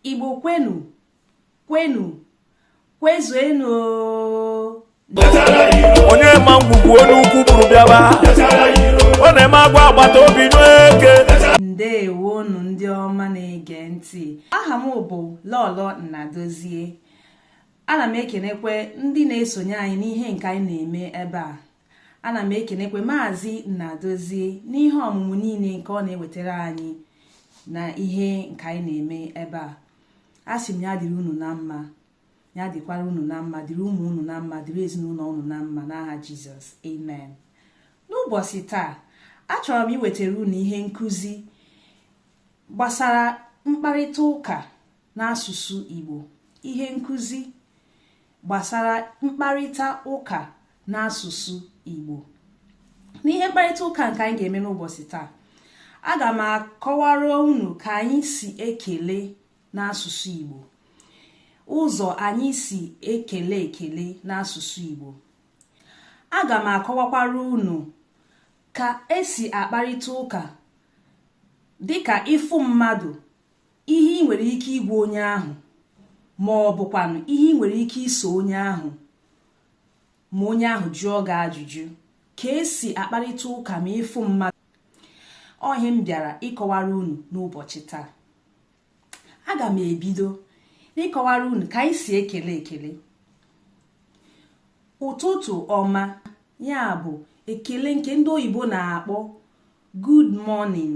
igbo kwenu kwenu kwezuenu onye ma ngwugwu onye ukwu buru bịaba ọ na-eme agwa agbata obi n'eke ndeewonu ndị ọma na-ege ntị aha m bụ lọlọ nnadozie ana m ekenekwe ndị na-esonye anyị n'ihe nke anyị na-eme ebe a ana m ekenekwe maazị Nnadozie n'ihe ọmụmụ niile nke ọ na-ewetara anyị na ihe nke anyị na-eme ebe a asị m ya dịrị unu na mma ya dịkwara unu na mma dịrị ụmụ unu na mma dịrị ezinụlọ unu na mma n'aha jizọs amen n'ụbọchị taa achọrọ m iwetara unu ihe nkụzi gbasara mkparịta ụka n'asụsụ Igbo ihe nkụzi gbasara mkparịta ụka n'asụsụ Igbo n'ihe mkparịta ụka nke anyị ga-eme n'ụbọchị taa aga m akọwara unu ka anyị si ekele n'asụsụ Igbo ụzọ anyị si ekele ekele n'asụsụ Igbo aga m akọwakwara unu ka e si akparịta ụka dịka ị fụ mmadụ ihe i nwere ike ịgwa onye ahụ ma ọ bụkwanụ ihe i nwere ike ịsa onye ahụ ma onye ahụ jụọ gị ajụjụ ka e si akparịta ụka ma ị fụ mmadụ ọ ihe m bịara ịkọwara unu n'ụbọchị taa aga m ebido n'ịkọwara unu ka anyị si ekele ekele ụtụtụ ọma ya bụ ekele nke ndị oyibo na-akpọ good morning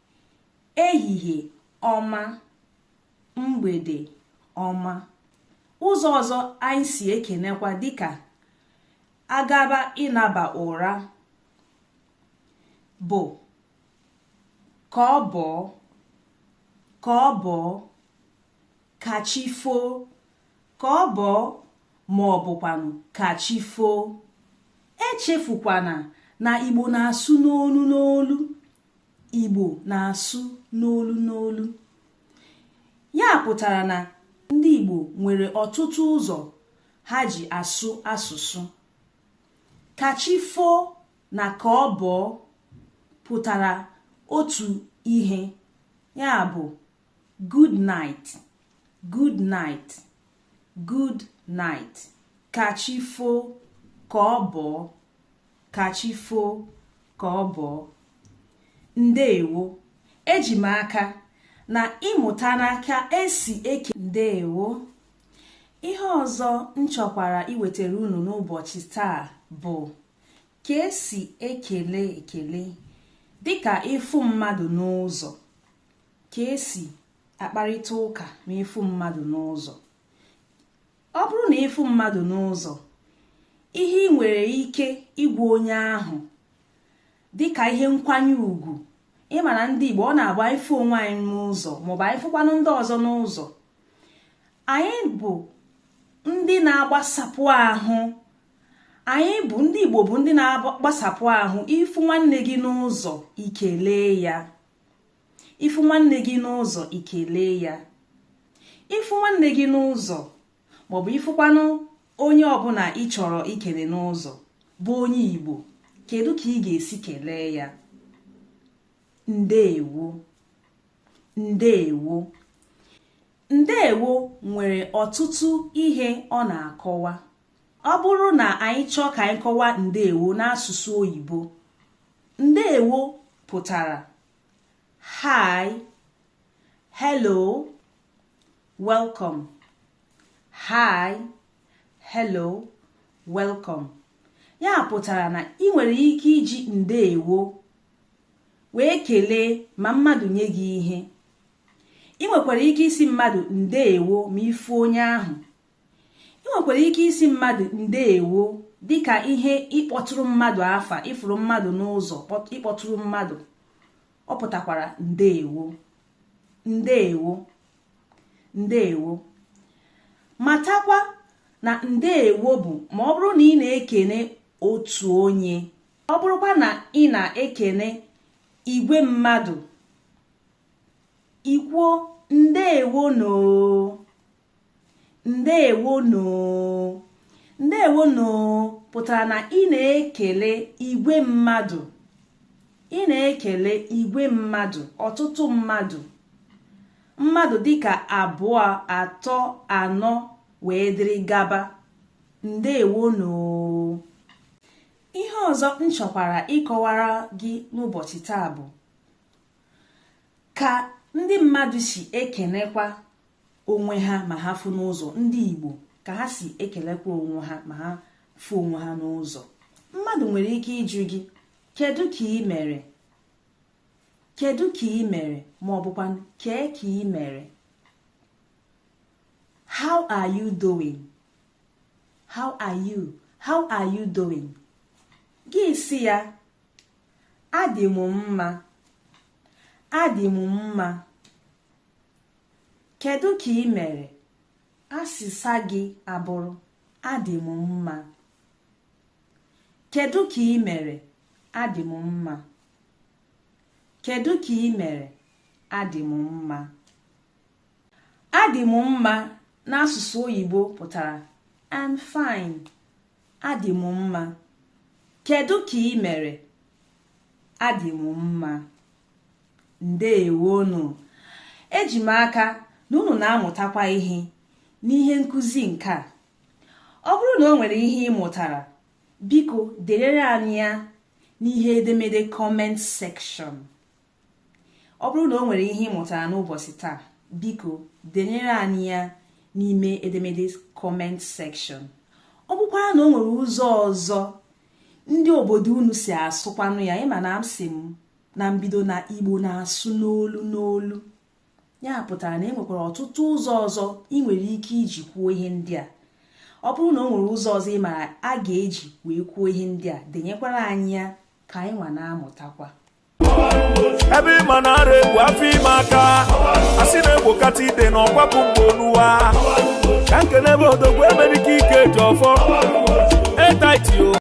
ehihie ọma mgbede ọma ụzọ ọzọ anyị si ekenekwa dịka a gaba ịnaba ụra bụ ka ọ bọọ ka ọ bọọ ka chi foo ka ọ bọọ ma ọ bụkwanụ ka chi foo echefukwana na igbo na-asụ n'olu n'olu igbo na-asụ n'olu n'olu ya pụtara na ndị igbo nwere ọtụtụ ụzọ ha ji asụ asụsụ kachifo na ka ọ bọọ pụtara otu ihe ya bụ good night good night good night kachifo ka ọ bọọ ka chi foo ka ọ bọọ ndeewo eji m aka na ị mụtana ka esi ekene ndeewo ihe ọzọ m chọkwara iwetara unu n'ụbọchị taa bụ ka esi ekele ekele dịka ịfụ mmadụ n'ụzọ ka esi akparịta ụka ma ị fụ mmadụ n'ụzọ ọ bụrụ na ị fụ mmadụ n'ụzọ ihe ị nwere ike ịgwa onye ahụ dịka ihe nkwanye ugwu ị ma na ndị Igbo ọ na-abụ anyị fụ onwe anyị n'ụzọ maọbụ anyị fụkwanụ ndị ọzọ n'ụzọ anyị bụ ndị na-agbasapụ ahụ anyị bụ ndị Igbo bụ ndị na-agbasapụ ahụ ị fụ nwanne gị n'ụzọ i kelee ya ị fụ nwanne gị n'ụzọ i kelee ya ị fụ nwanne gị n'ụzọ maọbụ ị fụkwanụ onye ọbụla ị chọrọ ikele n'ụzọ bụ onye Igbo kedu ka ị ga-esi kelee ya ndeewo ndeewo ndeewo nwere ọtụtụ ihe ọ na-akọwa ọ bụrụ na anyị chọọ ka anyị kọwa ndeewo n'asụsụ oyibo ndeewo pụtara hi hello welcome hi hello welcome ya pụtara na ị nwere ike iji ndeewo wee kelee ma mmadụ nye gị ihe ị nwekwara ike ịsị mmadụ ndeewo ma ị fụ onye ahụ ị nwekwara ike ịsị mmadụ ndeewo dịka ihe ịkpọtụrụ mmadụ afa ị fụrụ mmadụ n'ụzọ ị kpọtụrụ mmadụ ọ pụtakwara ndeewo ndeewo ndeewo matakwa na ndeewo bụ ma ọ bụrụ na ị na-ekene otu onye ọ bụrụkwa na ị na-ekene igwe mmadụ i kwuo ndeewo nụ ndeewo nụ ndeewo nụ pụtara na ị na-ekele igwe mmadụ ị na-ekele igwe mmadụ ọtụtụ mmadụ mmadụ dịka abụọ atọ anọ wee dịrị gaba ndeewo nụ ihe ọzọ m chọkwara ịkọwara gị n'ụbọchị taa bụ ka ndị mmadụ si ekenekwa onwe ha ma ha fụ n'ụzọ ndị Igbo ka ha si ekelekwa onwe ha ma ha fụ onwe ha n'ụzọ mmadụ nwere ike ịjụ gị kedu ka ị mere kedu ka ị mere ma ọ bụkwa kee ka ị mere how are you doing how are you how are you doing gị sị ya adị m mma adị m mma Kedu ka ị mere? Asịsa gị abụrụ adị m mma. Kedu ka ị mere? Adị m mma. Kedu ka ị mere? Adị m mma. Adị m mma n'asụsụ oyibo pụtara I'm fine. Adị m mma. Kedu ka ị mere? Adị m mma. ndewonụ eji m aka na unu na-amụtakwa ihe n'ihe nkụzi nke a ọ bụrụ na o nwere ihe ị mụtara biko deere anyị ya n'ime edemede comment section ọ bụrụ na o nwere ihe ị mụtara n'ụbọsị taa biko denyere anyị ya n'ime edemede comment section ọ bụkwara na o nwere ụzọ ọzọ ndị obodo unu si asụkwanụ ya ị ma na asị m na mbido na igbo na-asụ n'olu n'olu ya pụtara na e nwekwara ọtụtụ ụzọ ọzọ ị nwere ike iji kwuo ihe ndị a ọ bụrụ na o nwere ụzọ ọzọ ị mara a ga-eji wee kwuo ihe ndị a denyekwara anyị ya ka anyị nwa na-amụtakwa ebe ị ma na ara egbu afọ ime aka a sị na egbokata ide na ọ kwapụ mgbe oluwa ka nke n'ebe odogwu emerike ike ji ọfọ etaitio